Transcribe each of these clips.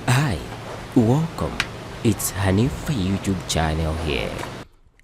Hi, welcome, it's Hanifa YouTube channel here.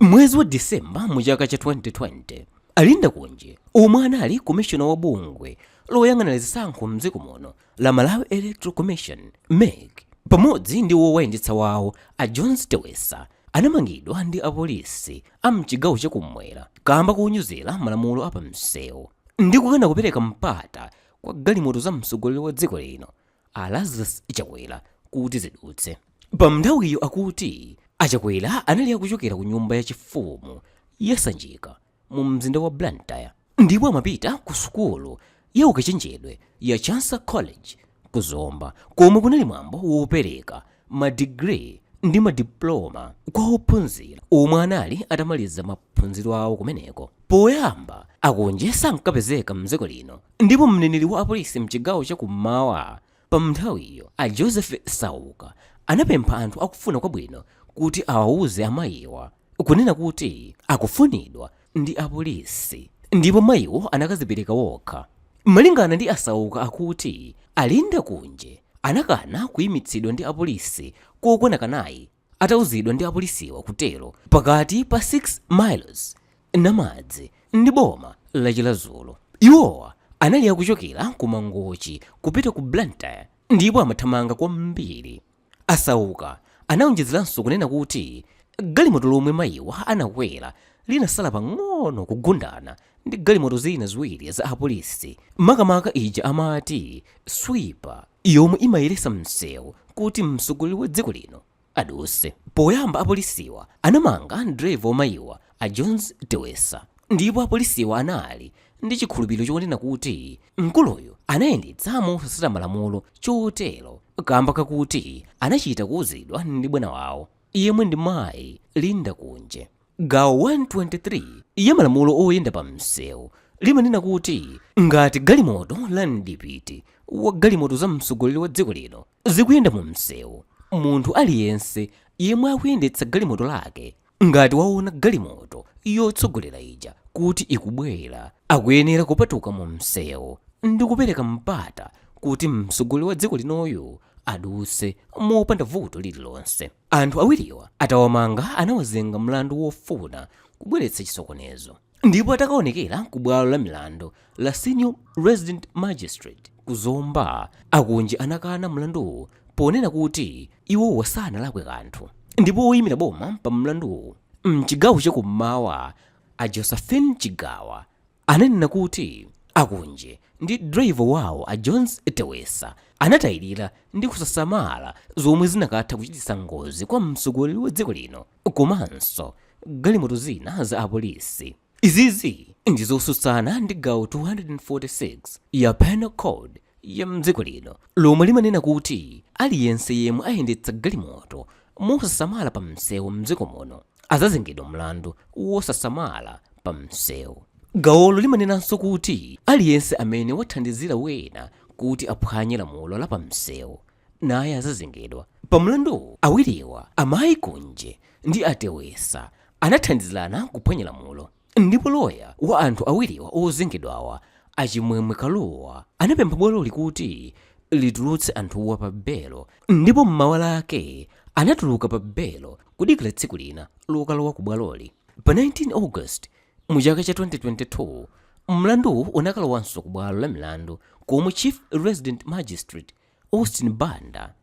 Mwezi wa December mu chaka cha 2020, a Linda Kunje omwe anali komishona wa bungwe loyang'anira zisankho mdziko muno la Malawi Electoral Commission MEC pamodzi ndi wowayendetsa wawo a Jones Tewesa anamangidwa ndi apolisi a mchigawo chakumwera kamba konyozera malamulo a pamsewu ndi kukana kupereka mpata kwa galimoto za mtsogoleri wa dziko lino a Lazarus Chakwera kuti zidutse. Pamnthawiyo akuti a Chakwera anali akuchokera ku nyumba ya chifumu ya Sanjika mu mzinda wa Blantyre ndipo amapita ku sukulu ya ukachenjedwe ya Chancellor College ku Zomba komwe kunali mwambo wopereka ma degree ndi ma diploma kwa ophunzira omwe anali atamaliza maphunziro awo kumeneko. Poyamba a Kunje sankapezeka mdziko lino ndipo mneneri wa apolisi mchigawo cha kummawa pa mnthawiyo a Joseph Sauka anapempha anthu akufuna kwabwino kuti awauze amayiwa kunena kuti akufunidwa ndi apolisi ndipo mayiwo anakazipereka wokha. Malingana ndi a Sauka akuti a Linda Kunje anakana kuimitsidwa ndi apolisi kokwana kanayi atauzidwa ndi apolisiwa kutero pakati pa 6 miles, Namadzi, ndi boma la Chiradzulu. Iwowa anali akuchokera ku Mangochi kupita ku Blantyre ndipo amathamanga kwambiri. A Sauka anaonjezeranso kunena kuti galimoto lomwe mayiwa anakwera linasala pang'ono kugundana ndi galimoto zina ziwiri za apolisi makamaka ija amati Sweeper yomwe imayeretsa msewu kuti mtsogoleri wa dziko lino adutse. Poyamba apolisiwa anamanga driver wa mayiwa a Jones Tewesa ndipo apolisiwa anali ndi chikhulupiriro chonena kuti mkuluyu anayendetsa mosatsata malamulo chotero kamba kakuti anachita kuuzidwa ndi bwana wawo yemwe ndi mayi Linda Kunje. Gawo 123 ya malamulo oyenda pa msewu limanena kuti ngati galimoto la mdipiti wa galimoto za mtsogoleri wa dziko lino zikuyenda mu msewu, munthu aliyense yemwe akuyendetsa galimoto lake ngati waona galimoto yotsogolera ija kuti ikubwera, akuyenera kupatuka mu msewu ndi kupereka mpata kuti mtsogoleri wa dziko linoyu adutse mopanda vuto lililonse. Anthu awiriwa atawamanga anawazenga mlandu wofuna kubweretsa chisokonezo. ndipo atakaonekera ku bwalo la milandu la senior resident magistrate ku zomba a kunje anakana mlanduwu ponena kuti iwowa sanalakwe kanthu ndipo woyimira boma pa mlanduwu mchigawo chakummawa a josephine chigawa ananena kuti a kunje ndi driver wawo a jones tewesa anatayirira ndi kusasamala zomwe zinakatha kuchititsa ngozi kwa mtsogoleri wa dziko lino komanso galimoto zina za apolisi. Izizi ndi zosutsana ndi gawo 246 ya Penal Code ya mdziko lino lomwe limanena kuti aliyense yemwe ayendetsa galimoto mosasamala pa msewu mdziko muno azazengedwa mlandu wosasamala pa msewu. Gawolo limanenanso kuti aliyense amene wathandizira wena kuti aphwanye lamulo la pa msewu naye azazengedwa pa mlanduwu. Awiriwa, amayi Kunje ndi a Tewesa, anathandizirana kuphwanya lamulo ndipo loya wa anthu awiriwa ozengedwawa, a Chimwemwe Kalua, anapempha bwaloli kuti litulutse anthuwa pa belo ndipo m'mawa lake anatuluka pa belo kudikira tsiku lina lokalowa ku bwaloli. Pa 19 August mu chaka cha 2022, mlanduwu unakalowanso ku bwalo la milandu komwe Chief Resident Magistrate, Austin Banda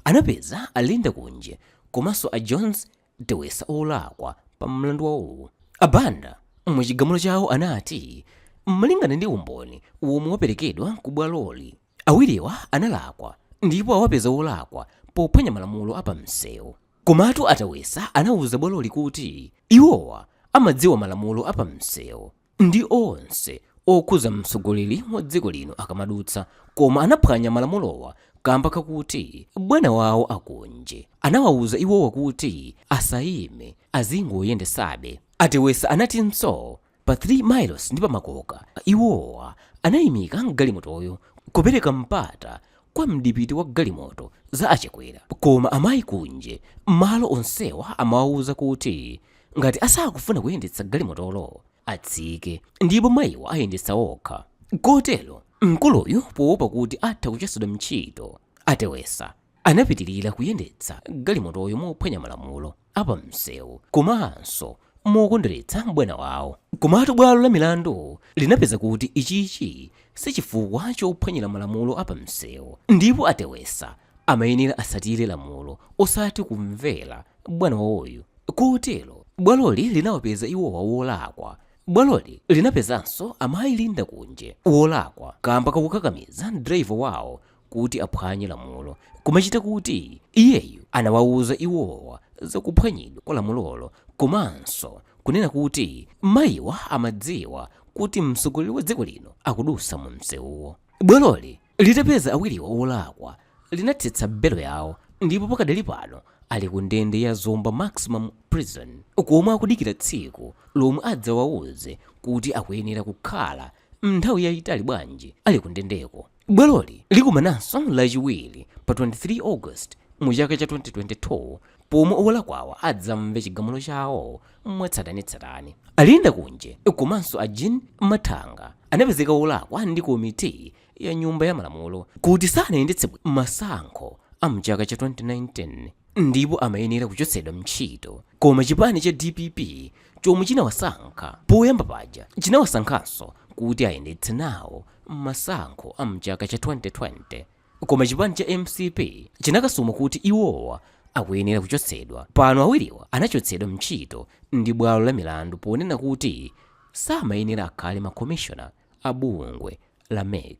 anapeza a Linda Kunje komanso a Jones Tewesa olakwa pa mlandu wawowu. A Banda mu chigamulo chawo anati malingana ndi umboni womwe waperekedwa ku bwaloli, awiriwa analakwa ndipo awapeza olakwa pophwanya malamulo a pamsewu. Komatu a Tewesa anauza bwaloli kuti iwowa amadziwa malamulo a pamsewu. ndi onse okhuza mtsogoleri wa dziko lino akamadutsa koma anaphwanya malamulowa kamba kakuti bwana wawo a kunje anawawuza iwowa kuti asayime azingoyendetsabe a tewesa anatinso pa 3 miles ndi pa makoka iwowa anayimika galimotoyo kupereka mpata kwa mdipiti wa galimoto za a chakwera koma amayi kunje malo onsewa amawawuza kuti ngati asakufuna kuyendetsa galimotolo atsike ndipo mayiwa ayendetsa okha kotero mkuluyu poopa kuti atha kuchotsedwa ntchito a tewesa anapitirira kuyendetsa galimotoyo mophwanya malamulo apa msewu komanso mokondweretsa bwana wawo komatu bwalo la milandu linapeza kuti ichichi sichifukwa chophwanyira malamulo apa msewu ndipo a tewesa amayenera asatire lamulo osati kumvera bwana wawoyu Kotero bwaloli linawapeza iwowa wolakwa. Bwaloli linapezanso amayi Linda Kunje wolakwa kamba kakukakamiza driver wawo kuti aphwanye lamulo kumachita kuti iyeyu anawauza iwowa za kuphwanyidwa kwa lamulolo komanso kunena kuti mayiwa amadziwa kuti mtsogoleri wa dziko lino akudusa mu msewuwo. Bwaloli Litapeza awiriwa olakwa, linathetsa belo yawo ndipo pakadali pano ali ku ndende ya Zomba Maximum Prison komwe akudikira tsiku lomwe adzawauze kuti akuyenera kukhala nthawi yaitali bwanji ali ku ndendeko. Bwaloli likumananso lachiwiri pa 23 August mu chaka cha 2022 pomwe olakwawa adzamve chigamulo chawo mwatsatanetsatane. A Linda Kunje komanso a Jean Mathanga anapezeka olakwa ndi komiti ya Nyumba ya Malamulo kuti sanayendetse masankho a m'chaka cha 2019 ndipo amayenera kuchotsedwa ntchito. Koma chipani cha dpp chomwe chinawasankha poyamba paja, chinawasankhanso kuti ayendetse nawo masankho a m'chaka cha 2020. Koma chipani cha mcp chinakasuma kuti iwowa akuyenera kuchotsedwa. Pano awiriwa anachotsedwa mntchito ndi bwalo la milandu ponena kuti samayenera akhale ma commissioner a bungwe la mec.